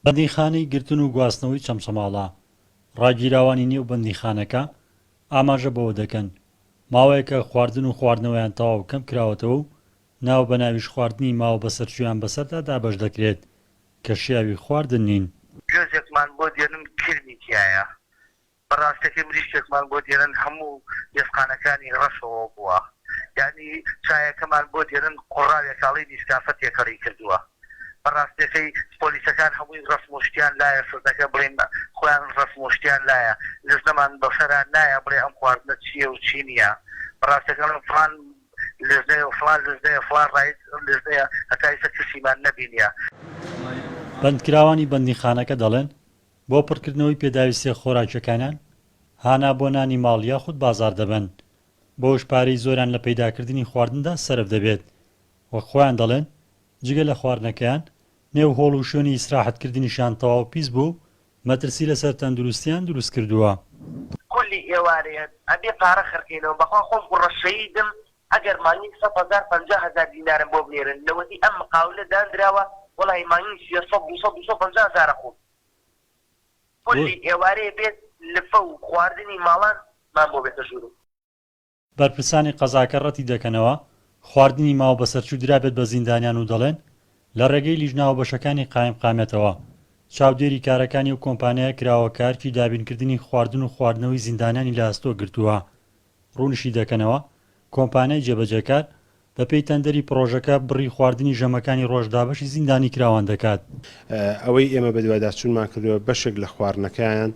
بەندیخانەی گرتن و گواستنەوەی چەمچەماڵە، ڕاگیراوانی نێو بەندیخانەکە ئاماژە بەوە دەکەن، ماوەیەکە خواردن و خواردنەوەیان تەواو کەم کراوەتەوە و ناو بە ناویش خواردنی ماوە بەسەرچوویان بەسەردا دابەش دەکرێت کە شیاوی خواردن نین. گوێزێکمان بۆ دێنن کرمی تیایە بە ڕاستەکەی مریشکێکمان بۆ دێنن هەموو ئێسقانەکانی ڕەشەوە بووە یانی چایەکەمان بۆ دێنن قوڕاوێکاڵی نیسکافە تێکەڵی کردووە بە ڕاستەکەی پۆلیسەکان هەمووی ڕەسم و شتیان لایە سزەکە بڵێن خۆیان ڕەسم و شتیان لایە لزنەمان بەسەرا نایە بڵێ ئەم خواردنە چیە و چی نیە بە ڕاستەکە بڵێن فڵان لزنەیە و فڵان لزنەیە فڵان ڕایت لزنەیە هەتا ئیستا کەسیمان نەبینیە. بەندکراوانی بەندیخانەکە دەڵێن بۆ پڕکردنەوەی پێداویستیە خۆراکیەکانان هانا بۆ نانی ماڵ یاخود بازاڕ دەبەن، بەوەش پارەی زۆریان لە پەیداکردنی خواردندا سەرف دەبێت، وەک خۆیان دەڵێن جگە لە خواردنەکەیان نێو هۆڵ و شوێنی ئیسراحەت کردنیشیان تەواو پیس بووە و مەترسی لەسەر تەندروستیان دروست کردووە. کلی ئێوارەیە ئەبێ پارە خەرکەینەوە بەخوا خۆم قوڕەشەیدم. ئەگەر مانگی سەد هەزار پەنجا هەزار دینارم بۆ بنێرن لەوەتەی ئەم مقاولە داندراوە وەڵاهی مانگی سێ سەد دوو سەد دوو سەد و پەنجا هەزارە خۆم کولی ئێوارێ بێت لفە و خواردنی ماڵان مان بۆ بێتە ژورم. بەرپرسانی قەزاکە رەتی دەکەنەوە خواردنی ماو بەسەرچوو درابێت بە زیندانیان و دەڵێن لە رێگەی لیژنە هاوبەشەکانی قایمقامیەتەوە چاودێری کارەکانی ئەو کۆمپانیایە کراوە کە ئەرکی دابینکردنی خواردن و خواردنەوەی زیندانیانی لە ئەستۆ گرتووە ڕوونیشیدەکەنەوە، کۆمپانیای جێبەجێکار بەپێی تەندەری پڕۆژەکە بڕی خواردنی ژەمەکانی ڕۆژ دابەشی زیندانیکراوان دەکات. ئەوەی ئێمە بەدواداچوونمان کردووە بەشێک لە خواردنەکەیان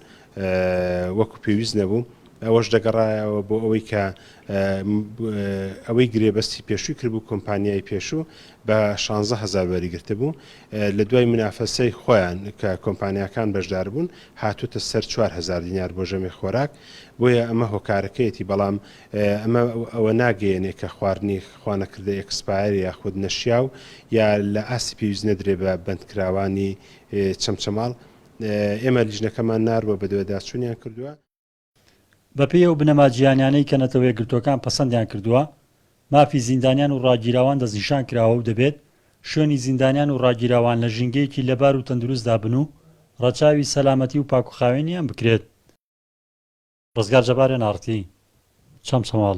وەکو پێویست نەبوو، ئەوەش دەگەڕایەوە بۆ ئەوەی کە ئەوەی گرێبەستی پێشووی کردبوو کۆمپانیای پێشوو بە شانزە هەزار وەریگرتبوو لە دوای منافەسەی خۆیان کە کۆمپانیاکان بەشداربوون هاتووتە سەر چوار هەزار دینار بۆ ژەمی خۆراک بۆیە ئەمە هۆکارەکەیەتی بەڵام ئەمە ئەوە ناگەیەنێ کە خواردنی خوانەکردە ئێکسپایەر یاخود نەشیاو یا لە ئاستی پێویست نەدرێ بە بەندکراوانی چەمچەماڵ ئێمە لیژنەکەمان ناروە بەدواداچونیان کردوە. بەپێی ئەو بنەما جیهانیانەی کە نەتەوەیەکگرتوەکان پەسەندیان کردوە مافی زیندانیان و ڕاگیراوان دەستنیشان کراوە و دەبێت شوێنی زیندانیان و ڕاگیراوان لە ژینگەیەکی لەبار و تەندروستدا بن و ڕەچاوی سەلامەتی و پاکوخاوێنیان بکرێت. ڕزگار جەبار ئێن ئاڕتی چەمچەماڵ.